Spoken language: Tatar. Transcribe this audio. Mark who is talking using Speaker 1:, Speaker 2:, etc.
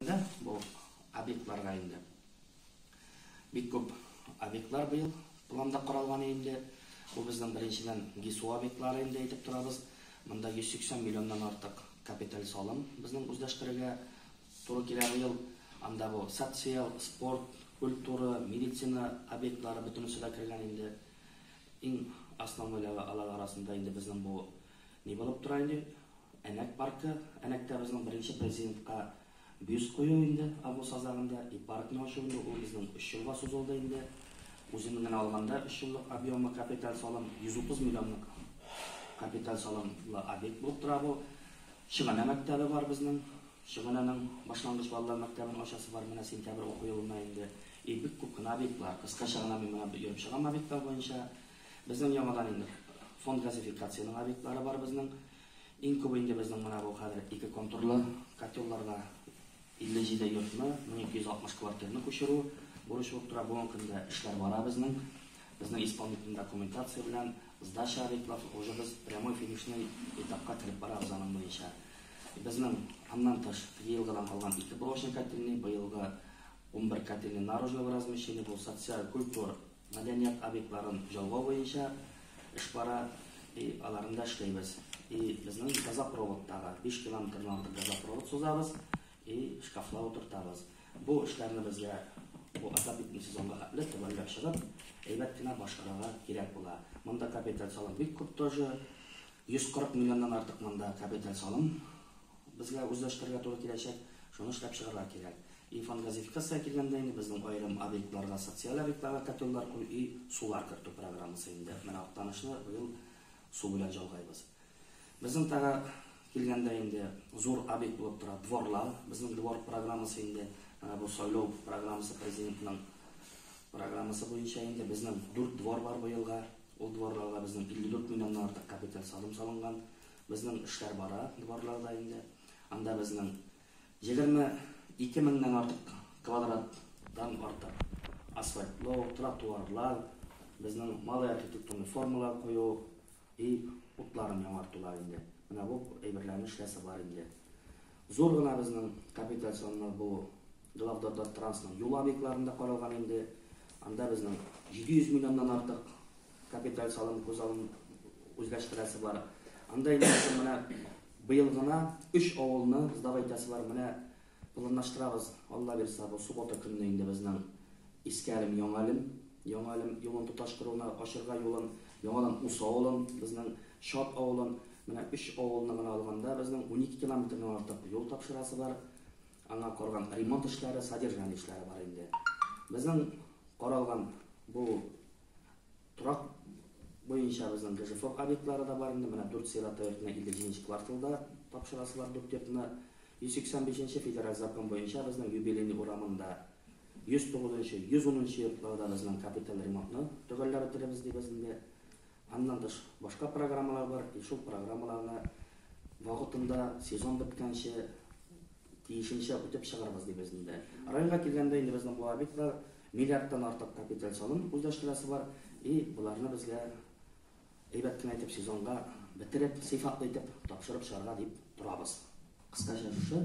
Speaker 1: Инде бу объектларга инде бик күп объектлар быел планда каралган инде. Бу безнең беренчедән ГИСУ объектлары инде әйтеп торабыз. Монда 180 миллионнан артык капиталь салым безнең үзләштерергә туры килә быел. Анда бу социаль, спорт, культура, медицина объектлары бөтенесе дә кергән инде. Иң основнойлары алар арасында инде безнең бу Ни булып тора инде, Әнәк паркы, Әнәктә безнең беренче президентка бюст кую инде, август азагында, и паркны ачу инде, ул безнең өч елга сузылды инде. Үзен генә алганда, өч еллык объемлы капиталь салым, 130 миллионлык капиталь салымлы объект булып тора бу. Чыгана мәктәбе бар безнең, Чыгананың башлангыч балалар мәктәбен ачасы бар менә сентябрь уку елына инде. И бик күп кенә объектлар, кыскача гына мин менә йөреп чыгам объектлар буенча. Безнең яңадан инде фонд газификацияның объектлары бар безнең. Иң күбе инде безнең менә бу хәзер ике контурлы котелларга 57 йортны, 1260 квартирны күчерү бурычы булып тора. Бүгенге көндә эшләр бара безнең. Безнең исполнительный документация белән сдача объектлар уже без прямой финишный этапка кереп барабыз аның буенча. Безнең аннан тыш елгыдан калган ике блочный котельный, быелгы унбер котельный наружного размещения, бу социаль, культур, Мәдәният объектларын җолгау буенча эш бара, и аларны да эшләйбез. И безнең газопроводтагы 5 километрдан артык газопровод сузабыз, и шкафлар утыртабыз. Бу эшләрне безгә бу азат итү сезонга хәтле төгәлләп чыгып, әйбәт кенә башкарырга кирәк була. Монда капиталь салым бик күп тоже. 140 миллионнан артык монда капиталь салым Безгә үзләштерергә туры киләчәк, шуны эшләп чыгарга кирәк. И фондгазификациягә килгәндә инде безнең аерым объектларга социаль объектларга котеллар кую и сулар кертү программасы инде менә Актанышны быел су белән җалгайбыз. Безнең тагы килгәндә инде зур объект булып тора дворлар, безнең двор программасы инде менә бу сайлау программасы президентның программасы буенча инде безнең дүрт двор бар быелга, ул дворларга безнең 54 миллионнан артык капиталь салым салынган, Безнең эшләр бара дворлар да инде. Анда безнең егерме ике меңнән артык квадраттан артык асфальтлау, тротуарлар, безнең малый архитектурный формалар кую и утларын яңартулар инде. Менә бу әйберләрнең эшләсе бар инде. Зур гына безнең капитализационлар бу главдорда трансның юл объектларында каралган инде. Анда безнең 700 миллионнан артык Капиталь салым күзалын үзләштерәсе бар. Анда инде менә быел гына өч авылны сдавай итәсе бар. Менә планлаштырабыз, Алла бирса, бу суббота көнне инде безнең Иске Әлем, Яңа Әлем, Яңа Әлем юлын тоташтыруны ачырга юлын, яңадан Ус авылын, безнең Шат авылын, менә өч авылны гына алганда безнең 12 километрдан артык юл тапшырасы бар. Аңа карган ремонт эшләре, содержание эшләре бар инде. Безнең каралган бу Торак буенча безнең ГЖФОК объектлары да бар инде. Менә дүрт сыйрат районына 57 нче кварталда тапшырасылар дүрт йортны. 185 нче федераль закон буенча безнең Юбилейный урамында 109 нчы, 110 нчы йортларда безнең капиталь ремонтны төгәлләп бетерербез дибез инде. Аннан тыш башка программалар бар. И шул программаларны вакытында сезон беткәнче Тиешенчә үтеп чыгарбыз дибез, диде. Районга килгәндә инде безнең бу объектлар миллиардтан артык капиталь салым үзләштерәсе бар и боларны безгә әйбәт кенә итеп сезонга бетереп, сыйфатлы итеп тапшырып чыгарга дип торабыз. Кыскача шушы.